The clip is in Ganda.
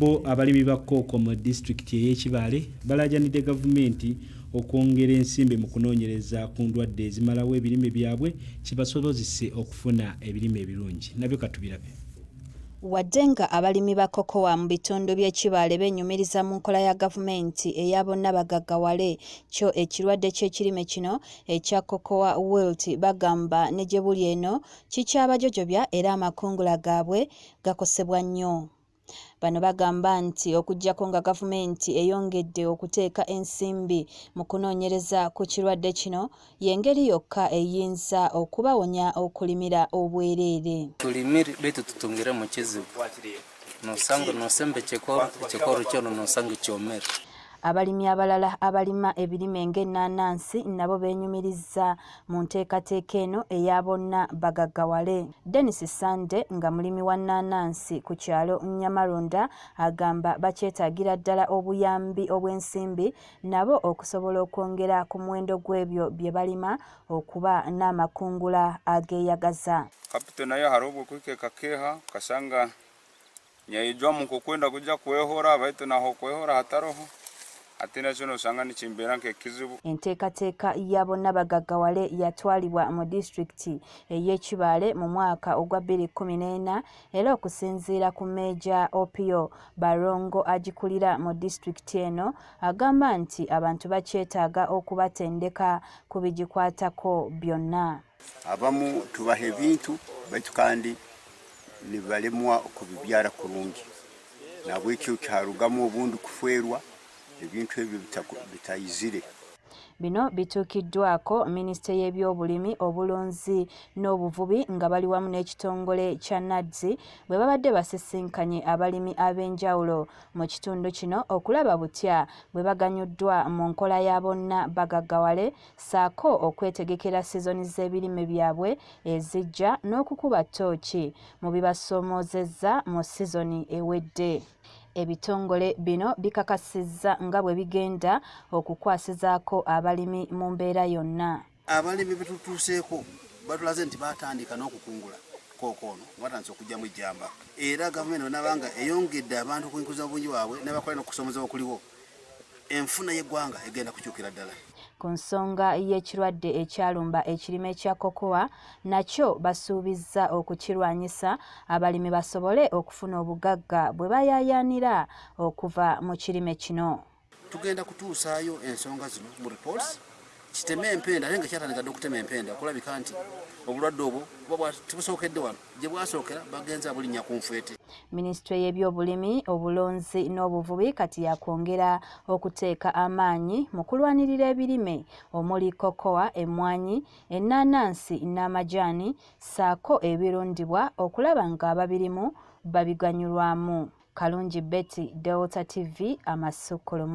Bo abalimi ba kkooko mu disitulikiti ey'e Kibaale balaajanidde gavumenti okwongera ensimbi mu kunoonyereza ku ndwadde ezimalawo ebirime byabwe kibasobozese okufuna ebirime ebirungi. Nabyo katubirabe. Wadde nga abalimi ba cocoa mu bitundu by'e Kibaale beenyumiriza mu nkola ya gavumenti eya bonna bagaggawale, kyo ekirwadde ky'ekirime kino ekya cocoa wilt bagamba ne gye buli eno kikyabajojobya era amakungula gaabwe gakosebwa nnyo. Bano bagamba nti okuggyako nga gavumenti eyongedde okuteeka ensimbi mu kunoonyereza ku kirwadde kino y'engeri yokka eyinza okubawonya okulimira obwereere. Tulimire baitu tutungire mu kizibu nosanga nosemba ekikolo ekikolo kyono nosanga kyomere Abalimi abalala abalima ebirime ng'ennaanansi nabo beenyumiriza mu nteekateeka eno eya bonna bagaggawale denis sande nga mulimi wa nnaanansi ku kyalo nyamaronda agamba bakyetaagira ddala obuyambi obw'ensimbi nabo okusobola okwongera ku muwendo gw'ebyo bye balima okuba n'amakungula ageeyagaza kapito nayo hariho obw'okwikekakeeha okasanga Nyaijwa mukukwenda kuja kwehora baitu naho kwehora hataroho ate nakyo nosanga nikimbeera nk'ekizibu. Enteekateeka ya bonna bagaggawale yatwalibwa mu disitulikiti ey'e Kibaale mu mwaka ogwa bbiri kkumi n'ena era okusinziira ku Meeja Opio Barongo agikulira mu disitulikiti eno agamba nti abantu bakyetaaga okubatendeka ku bigikwatako byonna. abamu tubaha ebintu baitu kandi nibalemwa okubibyara kurungi nabwekyo kyarugamu obundi kufwerwa ebintu ebyo bitayizire Bino bituukiddwako minisitule y'ebyobulimi obulunzi n'obuvubi nga bali wamu n'ekitongole kya NADS bwe babadde basisinkanye abalimi ab'enjawulo mu kitundu kino okulaba butya bwe baganyuddwa mu nkola ya bonna bagaggawale saako okwetegekera sizoni z'ebirime byabwe ezijja n'okukuba ttooki mu bibasoomoozezza mu sizoni ewedde ebitongole bino bikakasizza nga bwe bigenda okukwasizaako abalimi mu mbeera yonna abalimi betutuuseeko batulaze nti batandika n'okukungula kooko ono watandise okugyamu ejjamba era gavumenti onabanga eyongedde abantu okuinkuza obungi bwabwe nabakola nokusomoza okuliwo enfuna y'eggwanga egenda kukyukira ddala. Ku nsonga y'ekirwadde ekyalumba ekirime kya cocoa nakyo basuubizza okukirwanyisa abalimi basobole okufuna obugagga bwe bayaayaanira okuva mu kirime kino. Tugenda kutuusaayo ensonga zino mu reports kiteme empenda ate nga kyatandika dde okutema empenda okulabika nti obulwadde obwo buba tebusookedde wano gye bwasookera bagenze abulinnya ku nfeete minisitule y'ebyobulimi obulunzi n'obuvubi kati yakwongera okuteeka amaanyi mu kulwanirira ebirime omuli kokowa emmwanyi ennaanansi n'amajaani ssaako ebirundibwa okulaba ng'ababirimu babiganyulwamu kalungi betty delta tv amasukkulumu